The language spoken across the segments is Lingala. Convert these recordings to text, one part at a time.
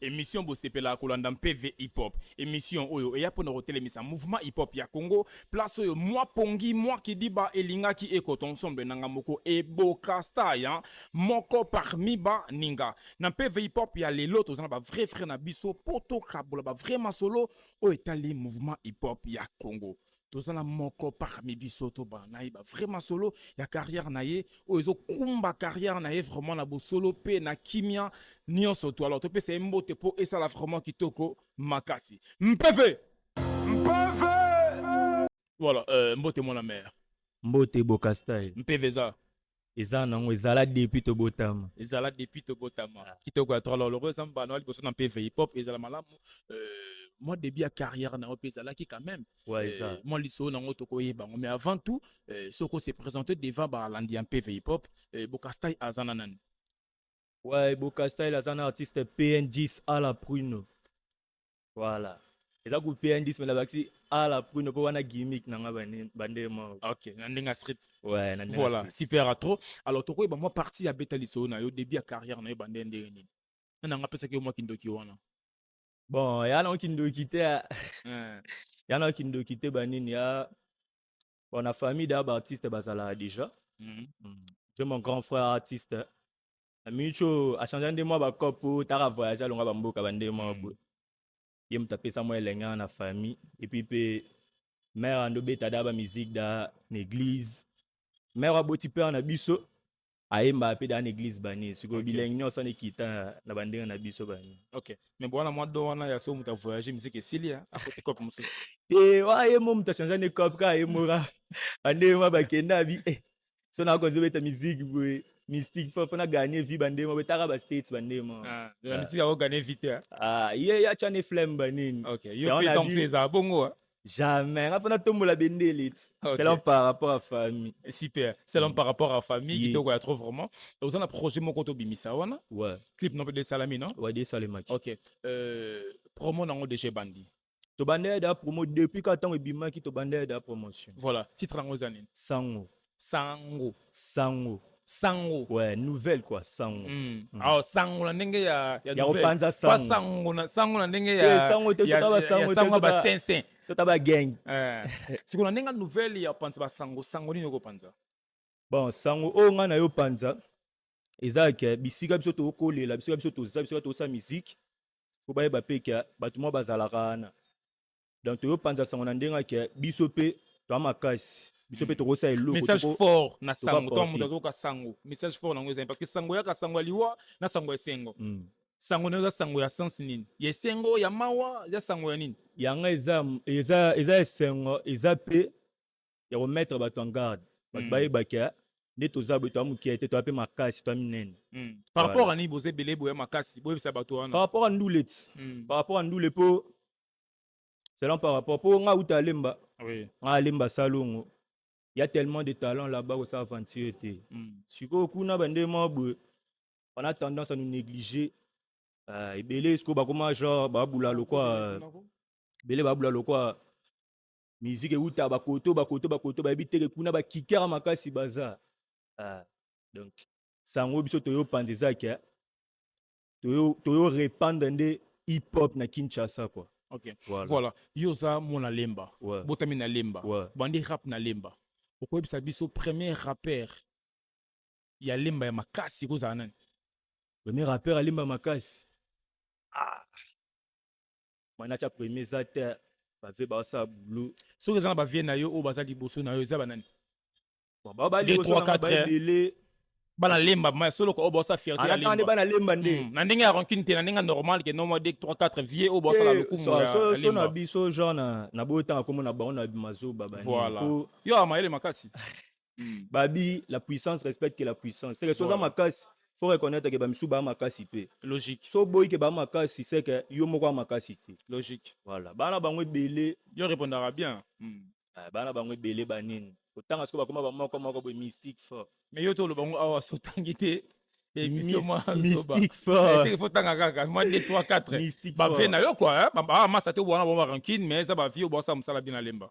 Emission bosepelaka kolanda mpe V-Hip-Hop. Emission oyo eya mpo na kotelemisa mouvement hip-hop ya Congo, place oyo mwa pongi, mwa kidiba elingaki ekota ensemble nanga moko eboka star ya moko parmi ba ninga. Na mpe V-Hip-Hop ya lelo toza na ba vrais frères na biso mpo tokabola ba vrais masolo oyo etali mouvement hip-hop ya Congo. toza na moko parmi biso tobana na ye bavrai masolo ya carrière na ye oyo ezokumba carrière na ye vraiment na bosolo mpe na kimia nyonso to alors topesa ye mbote mpo esala vraiment kitoko makasi mpeve mpeve voilà euh, mbote mwana mare mbote bokastai mpeve eza eza nango ezala depuis tobotama ezala depuis tobotama ah. kitoko ya tralo loko eza mbano ya liboso na mpv hip hop ezala malamu euh, mwa début ya carrière na yo mpe ezalaki quand même ouais, eza. Euh, mwa lisolo na yango tokoyeba yango mais avant tout euh, soko se présente devant balandi ya mpv hip hop euh, bokastai aza na nani ouais, bokastai aza na artiste pn10 à la prune Voilà. eza coupe ya ndisi me nabakisi ala pruno mpo wana gimmick na nga bande moko ok na ndenge ya street ouais, na ndenge voilà super à trop alors tokoyeba mwa partie ya beta lisolo na yo début ya carrière na yo bande ndenge nini na nanga apesaki yo mwa kindoki wana bon ya na kindoki te ya na kindoki te banini ya bon na famille da baartiste bazalaka déjà mm -hmm. je mon grand frère artiste na minute oyo achangea nde mwa bacope po taka voyage alonga bamboka bande mwa mm. boye ye moto apesa mwa elenge na famille epuis mpe mare ando beta da bamizike da na église mare aboti pere na biso ayembaka mpe da na église bani sikoyo okay. bilenge nyonso ana ekita na bandenge na biso bani ok mais bowana mwa do wana ya soko moto avoyage miziki esili akoti cope mosusu te wa ye mo moto achangea nde cope kaka ye moka bande mwa bakenda bi eh. so na konzo beta musique boye mystique fo na gagner vie bande mo betaka ba states bande mo ah la ah. musique a gagner vite hein. ah ye ya chane flemme ba nini OK yo pe donc c'est ça bongo hein. Jamais. Nga fana tombola bendele. Okay. C'est l'homme par rapport à famille. Super. C'est l'homme mm. par rapport à famille. Yeah. Kitoko ya trop vraiment. Vous avez un projet moko to bimisa wana? Ouais. Clip non de salami non? Ouais, de salami. OK. Euh promo nango de chez Bandi. tobandaki da promo depuis ka ntango ebimaki tobandaki da promotion voilà titre yango eza nini sango sango sango sango ouais nouvelle quoi sango mm. Mm. alors sango na ndenge ya ya ya kopanza sango pas sango na sango na ndenge ya eh, sango te sota ba sango te sango ba sensen sota ba gang eh siko na ndenge nouvelle ya panza ba sango sango nini okopanza bon sango oyo ngai na yo panza eza ke bisika biso tokolela bisika biso toza bisika tosa miziki po bayeba mpe ke bato mwa bazalaka wana donc toyo panza sango na ndenge ke biso mpe toa makasi biso mpe tokosala eloko message toko- fort na sango to porter. moto azoyoka sango message fort nango ezali parce que sango yaka sango ya liwa na sango ya esengo Mm. sango nayo eza sango ya sens nini ya esengo ya mawa eza sango ya nini yanga eza eza eza esengo eza mpe ya ko mettre bato en garde bato mm. bayebaki eh, nde toza boye toya mokie te toya mpe makasi toya minene mm. par rapport ani boza ebele boya makasi boyebisa bato wana par rapport a ndule ti mm. par rapport a ndule mpo selon par rapport mpo nga uta alemba oui. nga alemba salongo ya tellement de talent là-bas kosa aventure te mm. sikoyo kuna bande mwa boye on a tendance à nous négliger uh, ebele sikoyo bakoma genre babula lokwa ebele babula lokwa musique ewuta bakoto bakoto bakoto bayebi teke kuna bakikera makasi baza ah, donc sango biso toyo panza eza ke toyo, toyo repandre nde hip hop na kinshasa kua ok voilà, voilà. yo oza mwana lemba ouais. botami na lemba ouais. bandi rap na lemba okoyebisa biso premier rapper ya lemba ya makasi ekozala nani premier rapper ya lemba makasi ah. manacha premier eza te bave baosala bulu soki eza na bavie na yo oyo baza liboso na yo eza banani babele bana lemba ma solo ko obo sa fierté ya lemba bana lemba nde hmm, na ndenge ya rancune te na ndenge normal ke non moi 2 3 4 vieux obo sa la eh, lokumu ya so so na biso genre na na boyo tanga komona bango na mazoba ba voilà yo amayele makasi mm. babi la puissance respecte que la puissance seke soza makasi faut reconnaître que bamisu baa makasi mpe logique so boyi ke baa makasi seke yo moko a makasi te logique voilà bana bango ebele yo répondaka bien mm. Eh, bana bango ebele banini kotanga soko bakoma bamoko moko boye mystique fort mais yo toloba ngo awa sotangi te fotanga kaka mwa 2 3 4 bavie na yo kua bamasa te obwana bango barankine mais eza bavie obwasa mosala bina lemba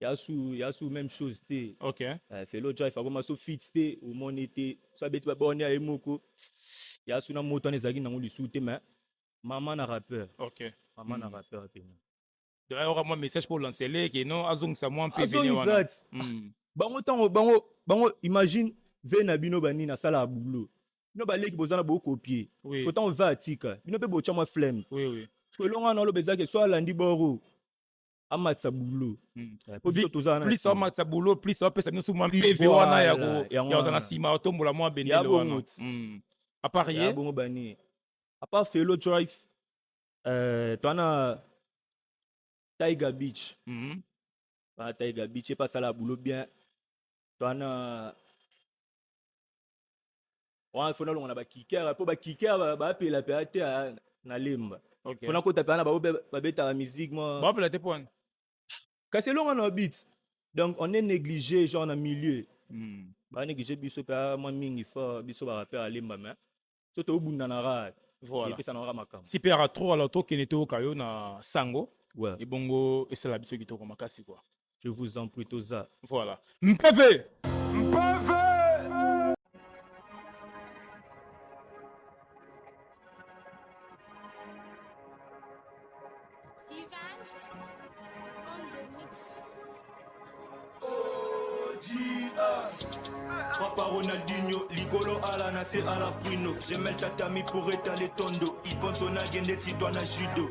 yasu yasu même chose te ok uh, felo drive akoma so fit te omoni te so abeti babone ya ye moko yasu na moto wana ezalaki nango lisu te mais mama na rappeur ok mama mm. na hmm. rappeur pena donc ayoka mwa message mpo olancele ke non azongisa mwa mpe vene wana hmm. bango ntango bango bango imagine ve na bino banini asalaka boulot bino baleki boza na bokopie oui. so ntango ve atika bino mpe botya mwa flemme oui, oui. elonga na oloba ezalaki so alandi boro amatisa bulo plus amatisa bulo plus apesa biso mwa mpevi wana ya kozala na nsima otombola mwa benene wana hmm. apart ye bongo bani apart felo drive euh, twana tiger beach hmm. ba tiger beach epa asala bulo bien twana wana fona longa na ba kicker po ba kicker ba pela pe ate na lemba okay. fona kota pe na ba ba beta la musique moi ba pela te pona kasi longa na beat donc on est négligé genre na milieu mm. ba négligé biso pe moi mingi fort biso ba rappeur à lemba mais so to bunda na rad voilà pesa na makambo si pe ara trop alors to kene to kayo na sango ouais. ebongo esala biso kitoko makasi quoi je vous en prie toza voilà mpeve mpeve Papa Ronaldinho, Ligolo Ala na se Ala Bruno. J'aime le tatami pour étaler ton dos. Il pense on a gagné, toi na judo.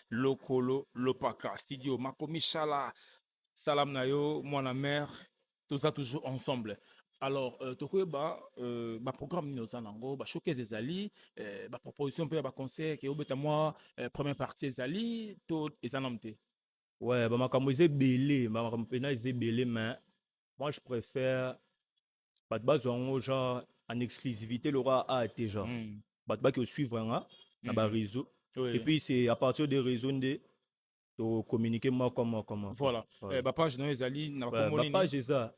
lokolo lopaka studio makomishala salam na yo mwana mère toza toujours ensemble alors euh, tokoyeba euh, baprogramme nini oza nango bashokese ezali euh, baproposition mpe ya baconseil ke obeta mwa euh, première partie ezali to eza nanu te ouais bamakambo eza ebele bamakambo mpena eza ebele mais moi je préfère bato bazwa yango genre en exclusivité lokola a te genre mm. bato baki osuivre yanga na mm. bareseau oui. et puis c'est à partir de réseau nde tocommunique moko moko moko voilà, voilà. Eh, bapage nayo ezali na bakombo nini bapage eza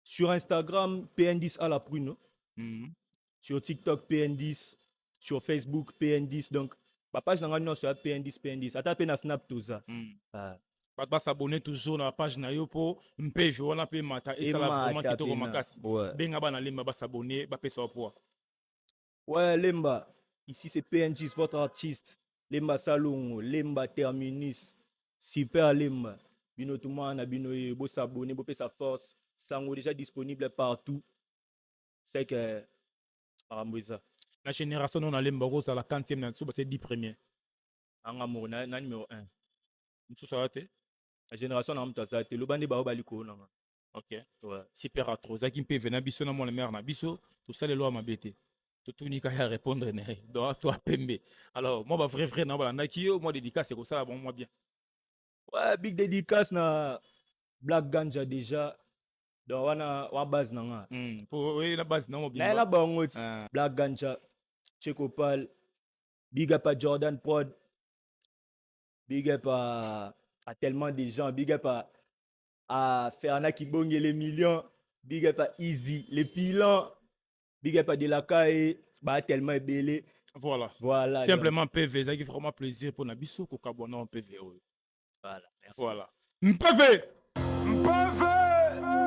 sur instagram pndis à la prune mm. sur TikTok PN10, sur Facebook PN10 donc ba page na nga nyonso ya PN10 PN10 ata pe na Snap toza. Mm. Ah. Bato ba s'abonner toujours na page na yo po mpe je wana pe mata et ça la vraiment kitoko makasi. Ouais. Benga bana lemba ba s'abonner ba pesa poa. Ouais lemba ici c'est PN10 votre artiste lemba salongo lemba terminus super lemba bino tumana bino ye bo s'abonner bo pesa force sango déjà disponible partout c'est que makambo eza na génération no nalemba okozala 40e na nsuba se 10 premier anga moko na, na numero 1 mosusu aza te na génération nanga moto aza te loba nde baoyo bali koyo nanga ok ouais. super atro ozalaki mpe vena biso na mwana mare na biso tosalelwa mabe te totuni kaka ya répondre na ye donc to apembe alors mwa bavrai vrai nao balandaki yo mwa dédicace ekosala bango mwa bien ouais, big dédicace na black ganja déjà donc wana wana base na nga Mm, po oye na base nango naye na bimba bango ti Ah, black ganja checopal big up à jordan prod big up à, à tellement des gens big up à, à ferna kibonge les millions big up à easy les pilans big up à delakae ba tellement ebele voilà voilà donc, simplement pv ezalaki vraiment plaisir mpo na biso kokabwa na pv oyo voilà, merci. voilà mpv Mpeve